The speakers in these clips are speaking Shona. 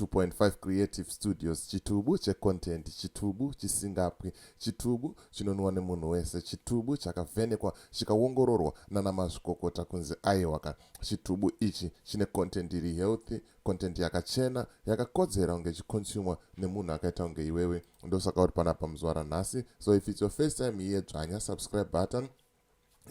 2.5 creative studios chitubu checontent chitubu chisingapwi chitubu chinonwiwa nemunhu wese chitubu chakavhenekwa chikaongororwa nana mazvikokota kunzi aiwaka chitubu ichi chine content iri healthy content yakachena yakakodzera kunge ichiconsumwa nemunhu akaita kunge iwewe ndosaka uri panapa muzuva ranhasi so if its your first time here dzvanya subscribe button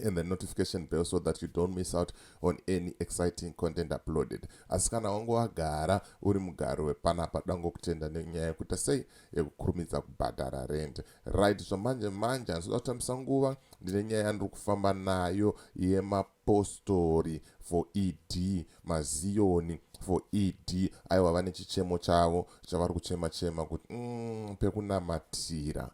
and the notification bell so that you don't miss out on any exciting content uploaded asi kana wange wagara uri mugari wepanapa dangokutenda nenyaya yekuita sei yekukurumidza kubhadhara rent right zvamanje manje handizoda kutambisa nguva ndine nyaya yandiri kufamba nayo yemapostori for ed maziyoni for ed aiwa vane chichemo chavo chavari kuchema chema kuti mm, pekunamatira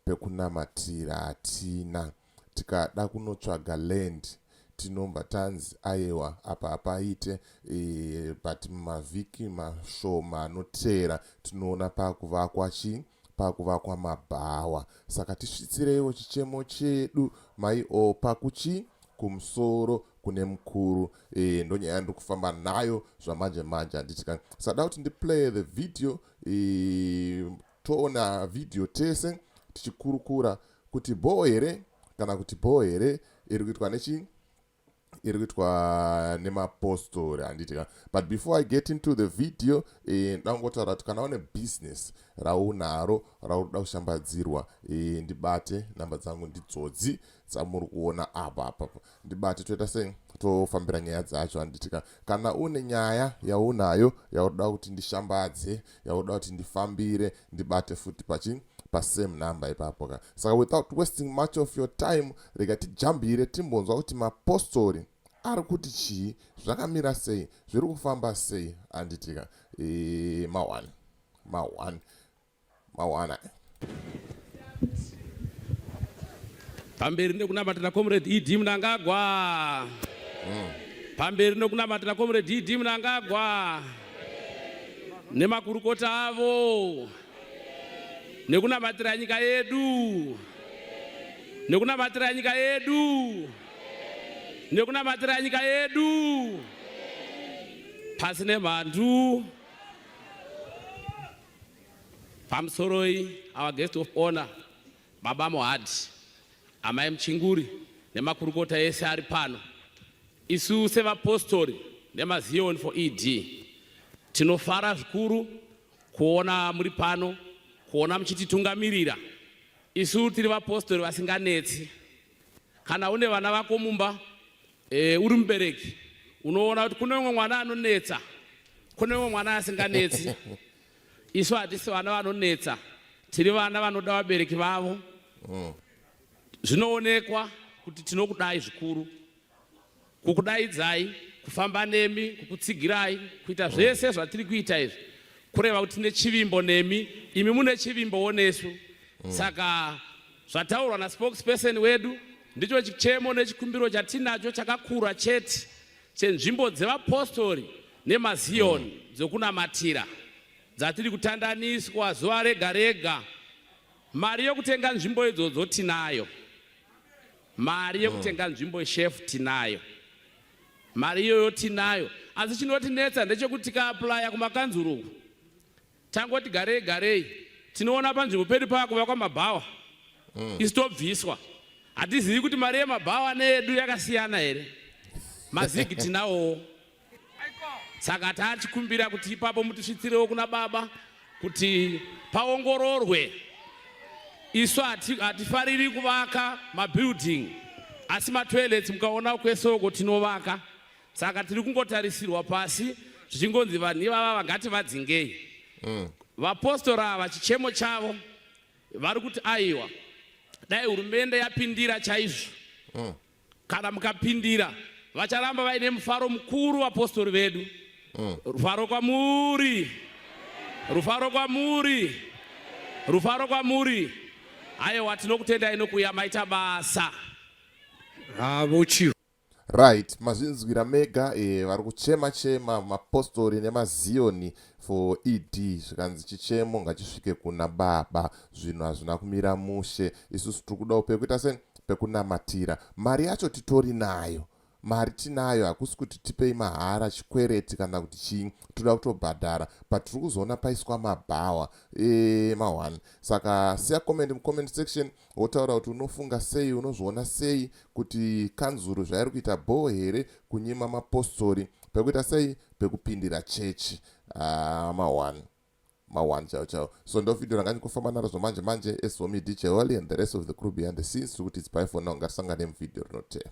pekunamatira hatina tikada kunotsvaga land tinobva tanzi ayewa apa hapaite ee but mumavhiki mashoma anoteera tinoona pakuvakwa chii pakuvakwa mabhawa saka tisvitsireiwo chichemo chedu mai o pakuchii kumusoro kune mukuru e, ndonyaya yandiri kufamba nayo zvamanje manje handiti ka sada kuti ndiplay the video e, Toona video tese tichikurukura kuti bhoo here kana kuti bhoo here iri kuitwa nechi iri kuitwa nemapostori handiti ka but before i get into the video eh, ndangotaura kuti kana une business raunaro raunoda kushambadzirwa eh, ndibate namba dzangu ndidzodzi dzamuri kuona apa apapa ndibate toita sei tofambira nyaya dzacho handitika kana une nyaya yaunayo yaunoda kuti ndishambadze yaunoda kuti ndifambire ndibate futi pachi pasame number ipapo ka saka without wasting much of your time rega tijambire timbonzwa kuti mapostori ari kuti chii zvakamira sei zviri kufamba sei handitika e, eh, ma1 ma1 mawana pamberi nekunamatira comrade ed mnangagwa mm. pamberi nekunamatira comrade ed mnangagwa nemakurukota avo nekunamatira nyika yedu nekunamatira nyika yedu nekunamatira nyika yedu pasi nemhandu Pamusoroi our guest of honor Baba Mohadi, Amai Muchinguri nemakurukota ese ari pano. Isu sevapostori nemazioni for ED tinofara zvikuru kuona muri pano, kuona muchititungamirira. Isu tiri vapostori vasinganetsi. Kana une vana vako mumba E, uri mubereki unoona kuti kune umwe mwana anonetsa kune umwe mwana asinganetsi isu hatisi vana vanonetsa tiri vana vanoda vabereki vavo mm. zvinoonekwa kuti tinokudai zvikuru kukudaidzai kufamba nemi kukutsigirai kuita zvese zvatiri kuita izvi kureva kuti tine chivimbo nemi imi mune chivimbowo nesu mm. saka Zvataurwa naspokesperson wedu ndicho chichemo nechikumbiro chatinacho chakakura chete chenzvimbo dzevapostori nemaziyoni mm. dzokunamatira dzatiri kutandaniswa zuva rega rega. Mari yokutenga nzvimbo idzodzo tinayo, mari yokutenga mm. nzvimbo shefu tinayo, mari iyoyo tinayo. Asi chinotinetsa ndechekuti tikaaplaya kumakanzuru uku Tangoti garei garei tinoona panzvimbo pedu pava kuvakwa mabhawa mm. isu tobviswa hatizivi kuti mari yemabhawa needu yakasiyana here mazigi tinawowo saka taachikumbira kuti ipapo mutisvitsirewo kuna baba kuti paongororwe isu hatifariri kuvaka mabuilding asi matoilets mukaona kwesoko tinovaka saka tiri kungotarisirwa pasi zvichingonzi vanhu ivava vangati vadzingei mm. vapostora ava chichemo chavo vari kuti aiwa dai hurumende yapindira chaizvo mm. kana mukapindira vacharamba vaine mufaro mukuru vapostori vedu mm. rufaro kwamuri rufaro kwamuri rufaro kwamuri ayewa tinokutendai nokuya maita basa havo ah, chiro Right, mazvinzwira mega eh, vari kuchema chema mapostori nemaziyoni for ED zvikanzi chichemo ngachisvike kuna baba zvinhu hazvina kumira mushe isusu tiri kudawo pekuita se pekunamatira mari yacho titori nayo mari tinayo hakusi kuti tipei mahara chikwereti kana kuti chii toda kutobhadhara but tiri kuzoona paiswa mabhawa e, eh, ma1 saka siya comment mucomment section wotaura kuti unofunga sei unozviona sei kuti kanzuru zvairi kuita bhoo here kunyima mapostori pekuita sei pekupindira chechi ah, maone maone chao chao so ndovideo ranga ndikufamba naro zvomanje manje esomi dj holy and the rest of the crew behind the scenes tiri kuti it's by for now ngatisangane muvideo rinotera